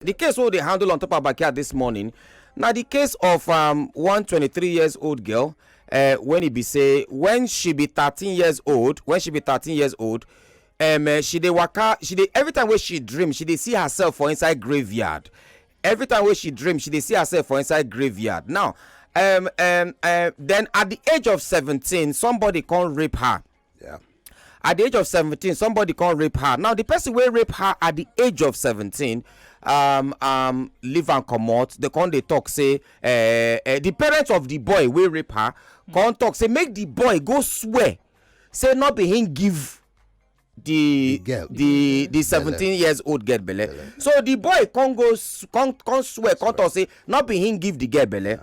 The case wey we dey handle on top our backyard this morning na the case of um, one 23 years old girl uh, when e be say when she be 13 years old when she be 13 years old um, uh, she dey waka she dey every time wey she dream she dey see herself for inside graveyard every time wey she dream she dey see herself for inside graveyard now um, um, uh, then at the age of 17 somebody come rape her Yeah. At the age of 17, somebody can't rape her. Now, the person will rape her at the age of 17 um, um, leave and comot the con dey talk say uh, uh, the parents of the boy wey rape her con talk say make the boy go swear say no be him give the girl the the seventeen years old girl belle so the boy come go come come swear come talk say not be him give the girl belle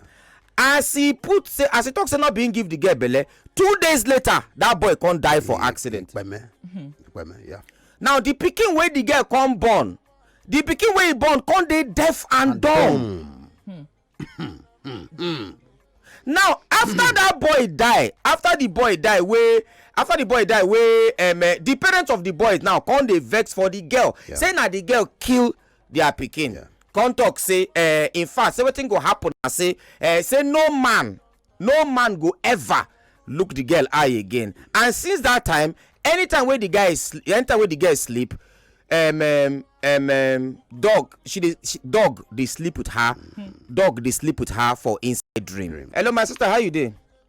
as e put say as e talk say no be him give the girl belle two days later that boy come die for accident now the pikin wey the girl come born the pikin wey he born come dey deaf and dumb now after that boy die after the boy die wey after the boy die wey um, eh, the parents of the boy now come dey vex for the girl say na the girl kill their pikin yeah. come talk say uh, in fact say wetin go happen na say uh, say no man no man go ever look the girl eye again and since that time anytime wey the guy is anytime wey the girl sleep um, um, um, um, dog she dey she, dog dey sleep with her mm. dog dey sleep with her for inside dream. dream hello my sister how you dey.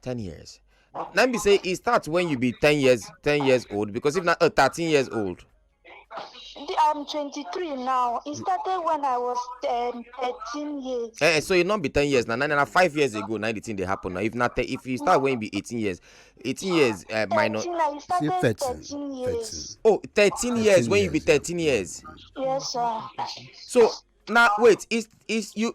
ten years na im be say e start when you be ten years ten years old because if na uh, thirteen years old. The- I'm 23 now. It started when I was um, 13 years. Eh, eh, so e no be ten years na na na five years ago na the thing dey happen na if na te if you start when you be eighteen years eighteen years uh, minus 13, I started 13, 13 years. oh thirteen years when you be thirteen years Yes, sir. so na wait is is you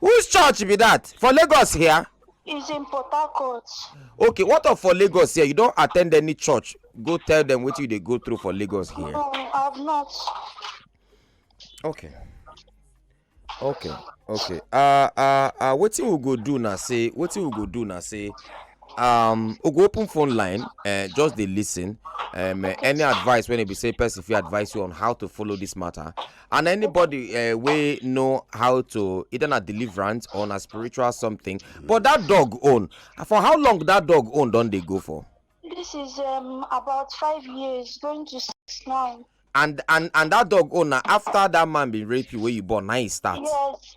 Whose church be that? For Lagos here? It's in Port Harcourt. Okay, what of for Lagos here? You don't attend any church. Go tell them what you they go through for Lagos here. No, I've not. Okay. Okay. Okay. Uh uh uh what you will go do now say what you will go do now say um we go open phone line uh, just dey listen um, uh, any advice when e be say person fit advise you on how to follow this matter and anybody uh, wey know how to either na deliverance or na spiritual something but that dog own for how long that dog own don dey go for. this is um, about five years going to six now. and and and that dog own na after that man bin rape you wey you born na e start. yes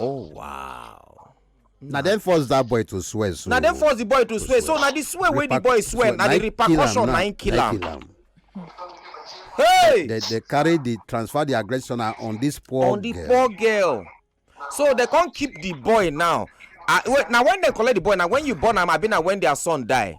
Oh wow. na dem force that boy to swear so. na dem force the boy to swear so na the swear wey the boy swear na the repercussion na im kill am. hey they they carry the transfer the aggression on this poor girl. on the poor girl so they come keep the boy now ah, na when dem collect the boy na when you born am abi na when their son die.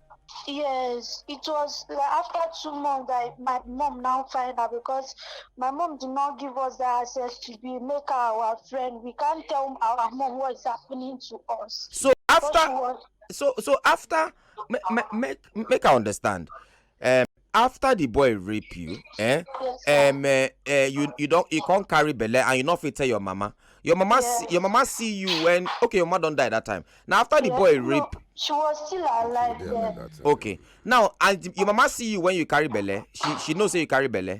Yes, it was like after two months that my mom now find her because my mom did not give us the access to be make her our friend. We can't tell our mom what is happening to us. So after, was, so so after, make make make I understand. Um, after the boy rape you eh um, eh, eh, you you don you come carry belle and you no fit tell your mama your mama yes. see, your mama see you when okay your mama don die that time na after the yes, boy no, rape. she was still alive then. okay now and your mama see you when you carry belle she she know say you carry belle.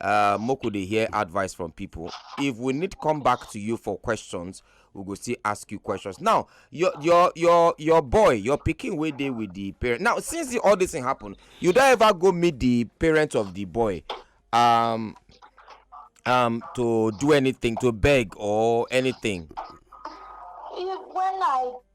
Uh, Moku dey hear advice from people. If we need come back to you for questions, we go still ask you questions. Now, your your your your boy, your picking way day with the parent. Now, since the, all this thing happened, you don't ever go meet the parents of the boy. Um, um to do anything to beg or anything when i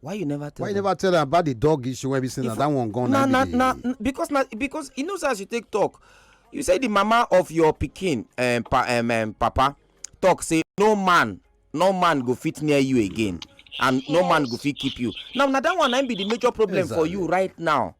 why you never tell why you never tell am about the dog issue wey be say na that one gone na na na because na because e know say as you take talk you say the mama of your pikin um, pa, um, um, papa talk say no man no man go fit near you again and yes. no man go fit keep you now na that one na be the major problem exactly. for you right now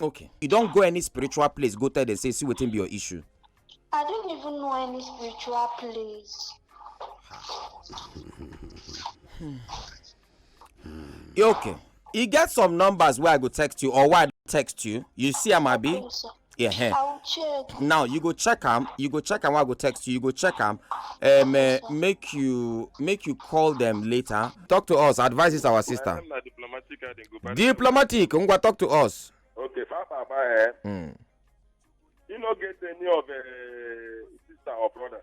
okay you don go any spiritual place go tell dem say see wetin be your issue i don't even know any spiritual place hmm. okay e get some numbers wey i go text you or why i text you you see am abi Yeah. eh. I will check. Now you go check am. You go check am. I go text you. You go check am. Um, eh, make you make you call them later. Talk to us. Advise is our sister. Na diplomatic I dey go back. Diplomatic. Ngwa talk to us. Okay, far papa eh. Mm. You no get any of uh, sister or brother.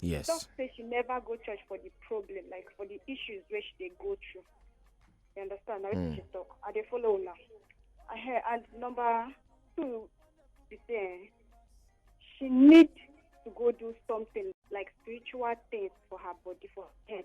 Yes. Talk say she never go church for the problem, like for the issues where she dey go through. You understand? Now mm. she talk. I dey follow now. I hear and number two is there. She need to go do something like spiritual things for her body, for her head.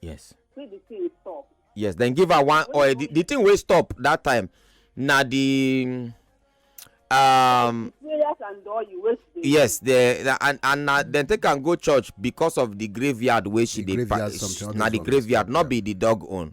yes see the thing stop. yes then give her one oil the, the thing wey stop that time na the um prayers and oil wey she dey yes the and and na dem take am go church because of the graveyard wey she The dey graveyard something, all na those the one. graveyard not be the dog own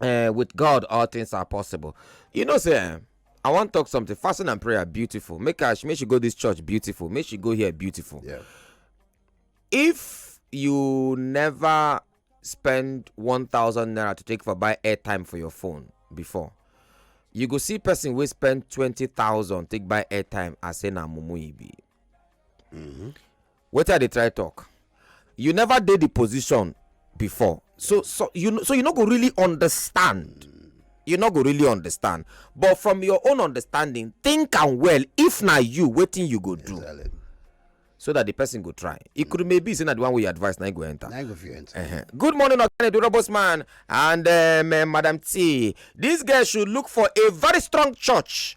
uh, with God, all things are possible. You know, say, eh, I want to talk something. Fasting and prayer, beautiful. Make her, make she go this church, beautiful. Make she go here, beautiful. Yeah. If you never spend 1,000 naira to take for buy airtime for your phone before, you go see person wey spend 20,000 take buy airtime and say na mumu e be. Mm -hmm. wetin i dey try talk you never dey the position before so so you so you no go really understand you no go really understand but from your own understanding think am well if na you wetin you go do Exactly. so that the person go try e could maybe say na the one wey you advise na him go enter. Now you go fit enter. Uh-huh. Good morning, Okane, the robust man, and um, uh, Madam T. This girl should look for a very strong church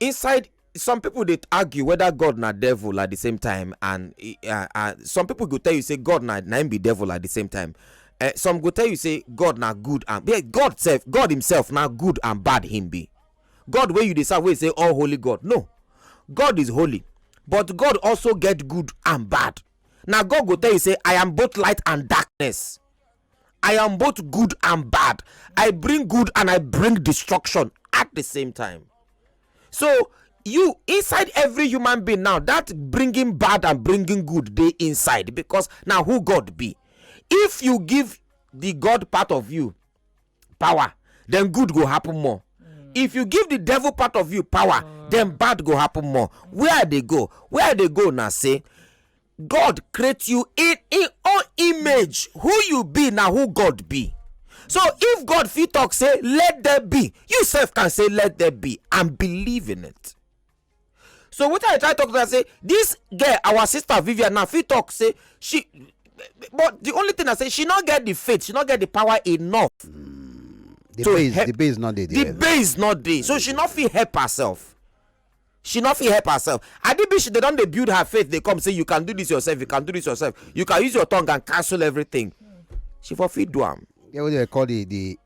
inside some people dey argue whether god na devil at the same time and uh, uh, some people go tell you say god na na him be devil at the same time uh, some go tell you say god na good and yeah, god self god himself na good and bad him be god wey you dey serve wey say all holy god no god is holy but god also get good and bad na god go tell you say i am both light and darkness I am both good and bad. I bring good and I bring destruction at the same time. So you inside every human being now that bringing bad and bringing good dey inside because na who God be. If you give the God part of you power, then good go happen more. If you give the devil part of you power, then bad go happen more. Where I dey go? Where I dey go na say god create you in im own image who you be na who god be so if god fit talk say let there be you sef can say let there be and believe in it so wetin i try talk to am say this girl our sister vivian na fit talk say she but the only thing na say she no get the faith she no get the power enough the to base help the base no dey the there base no dey so she no fit help herself she no fit help herself adibishi dey don dey build her faith dey come say you can do this yourself you can do this yourself you can use your tongue and cancel everything she for fit do am. yeah what do they call the the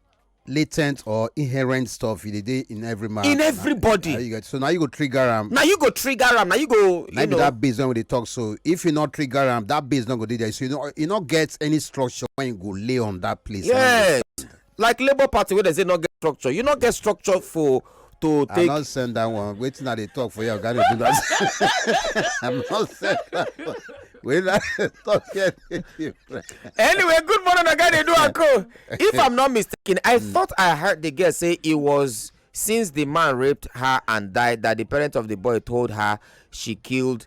latent or inherent stuff you dey in every man. in everybody. Na, na you get, so now you go trigger am. na you go trigger am na you go. You na know. be that base when we dey talk so if you no trigger am that base no go dey there so you no you no get any structure when you go lay on that place. yes. like labour party wey dem say no get structure you no get structure for to take. i not send that one wetin i dey talk for you oga dey do that i not send that one wey na talk here dey different. anyway good morning oga dey do and co if i'm not mistaken i mm. thought i heard the girl say it was since the man raped her and died that the parents of the boy told her she killed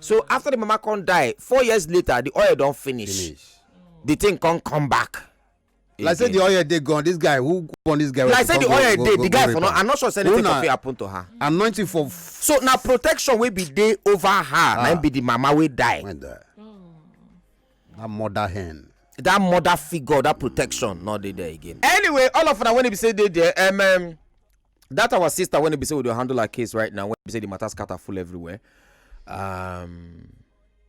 so mm. after the mama come die four years later the oil don finish, finish. the thing come come back. Again. like say the oil dey gone this guy who born this guy. like say the oil dey the guy for no i'm not sure say anything go fit happen to her. anointing for. so na protection wey be dey over her ah. na im be the mama wey die. When die. Mm. that mother hen that mother figure that protection not there again. anyway all of una when e be say dey there um, um, that our sister when be say we dey handle her case right now when be say the matter scatter full everywhere um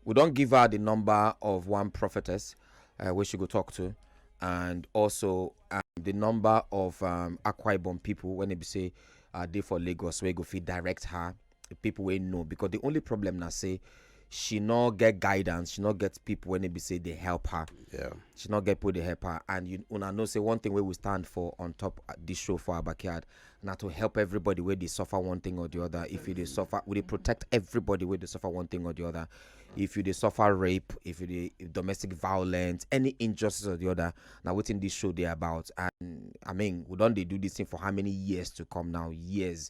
we don give her the number of one prophetess uh, wey she go talk to and also um, the number of um, akwa ibom people when e be say uh, dey for lagos wey go fit direct her people wey know because the only problem na say she no get guidance she no get people wey be say dey help her yeah she no get people dey help her and you una know say one thing wey we stand for on top uh, this show for our backyard na to help everybody wey dey suffer one thing or the other if you dey suffer we dey protect everybody wey dey suffer one thing or the other if you dey suffer rape if you dey if domestic violence any injustice or the other na wetin this show dey about and i mean we don dey do this thing for how many years to come now years